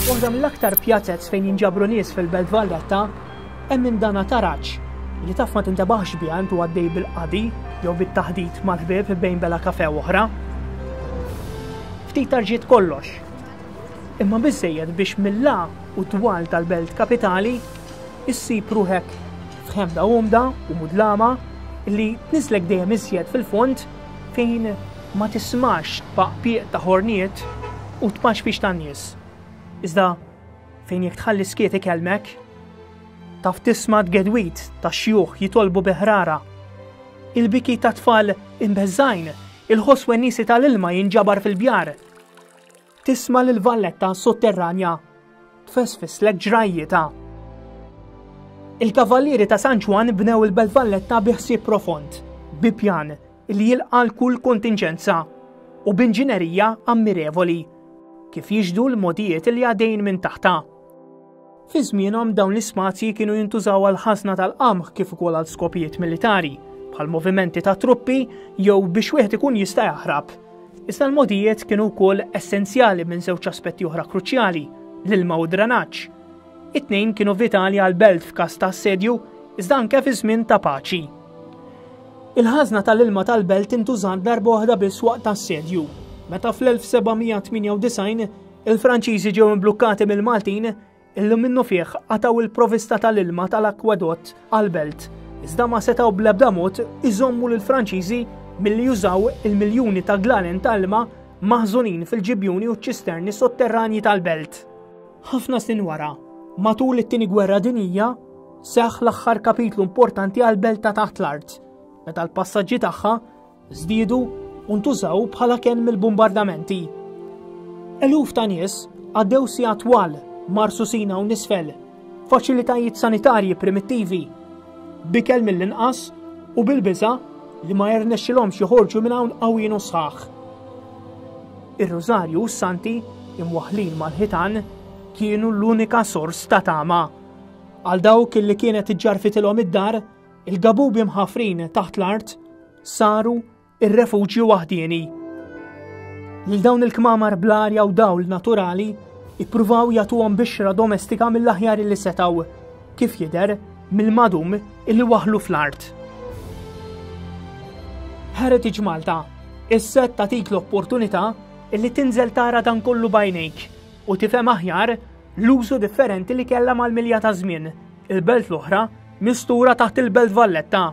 Waħda mill-aktar pjazez fejn jinġabru nies fil-Belt Valletta hemm minn dana taraġ li taf ma tintebaħx biha intu għaddej bil-qadi jew bit-taħdit mal-ħbieb bejn bela kafe oħra. Ftit tarġiet kollox. Imma biżejjed biex mill-la u twal tal-belt kapitali issib ruħek f'ħemda umda u mudlama li tnislek dejjem iżjed fil-fond fejn ma tismax tpaqpiq ta' ħorniet u tpaxfix tan-nies, iżda fejn jekk tħalli skiet ikellmek, taf tisma' t-tgedwid tax-xjuħ jitolbu bi ħrara, il-biki tat-tfal imbeżżgħin, il-ħoss weniesi tal-ilma jinġabar fil-bjar. Tisma' lil valletta sotterranja tfesfislek ġrajjita. Il-Kavallieri ta' San Ġwann bnew il-Belt Valletta bi ħsieb profond, bi pjan li jilqa' l-kull kontinġenza u b'inġinerija ammirevoli, kif jixhdu l-mogħdijiet li għadejn minn taħtha. Fi żmienhom dawn l-ispazji kienu jintużaw għal ħażna tal-qamħ kif ukoll għal skopijiet militari, bħal movimenti ta' truppi jew biex wieħed ikun jista' jaħrab. Iżda l-modijiet kienu wkoll essenzjali minn żewġ aspetti oħra kruċjali, l-ilma u dranaġġ. It-tnejn kienu vitali għal belt f'każ ta' assedju, iżda anke fi żmien ta' paċi. Il-ħażna tal-ilma tal-belt intużat darba oħra biss waqt assedju, meta fl-1798 Il-Franċiżi ġew imblukkati mill-Maltin illum minnu fih qataw il-provista tal-ilma tal-akwadott għal-belt, iżda ma setaw blebda mod iżommu l-Franċiżi milli jużaw il-miljuni ta' glalen ta' ilma maħżunin fil-ġibjuni u ċisterni sotterranji tal-belt. Ħafna snin wara, matul it-tieni gwerra dinija, seħħ l-aħħar kapitlu importanti għal-belt ta' taħt l-art, meta l-passaġġi tagħha żdiedu u ntużaw bħala kenn mill-bumbardamenti. Eluf ta' nies għaddew sija twal marsusin hawn nisfel, faċilitajiet sanitarji primittivi, bikel mill-inqas u bil-biża li ma jirnexxilhomx joħorġu minn hawn qawwin u sħaħ. Ir-Rużarju u s-Santi imwaħlin mal-ħitan kienu l-unika sors ta' tama. Għal dawk li kienet iġġarfitilhom id-dar, Il-gabubi mħafrin taħt l-art saru ir-refuġju waħdieni. Lil dawn il-kmamar bl-arja u dawl naturali ippruvaw jagħtuhom bixra domestika mill-aħjar li setaw, kif jidher mill-madum illi waħlu fl-art. Heritage Malta, is-set ta' tik l-opportunità illi tinżel tara dan kollu bajnejk u tifhem aħjar l-użu differenti li kellha mal-milja ta' żmien, il-belt l-oħra mistura taħt il-belt Valletta.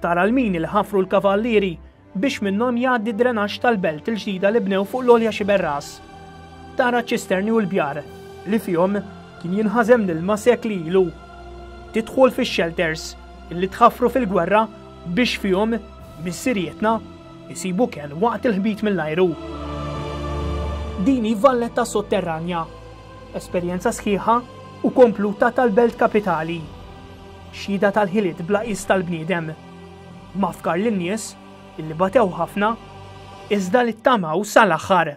Tara l-mini li ħafru l-kavallieri biex minnhom jgħaddi drenax tal-belt il-ġdida li bnew fuq l-olja xiberras. Tara ċisterni u l-bjar li fihom kien jinħazem l-ilma sekli ilu. Tidħol fix-shelters illi tħafru fil-gwerra biex fihom missirietna isib ukel waqt il-ħbit mill-ajru. Din hi valletta sotterranja, esperjenza sħiħa u kompluta tal-belt kapitali, xhieda tal-ħiliet bla qies tal-bniedem, mafkar lin-nies li batew ħafna iżda li ttamaw sal-aħħar.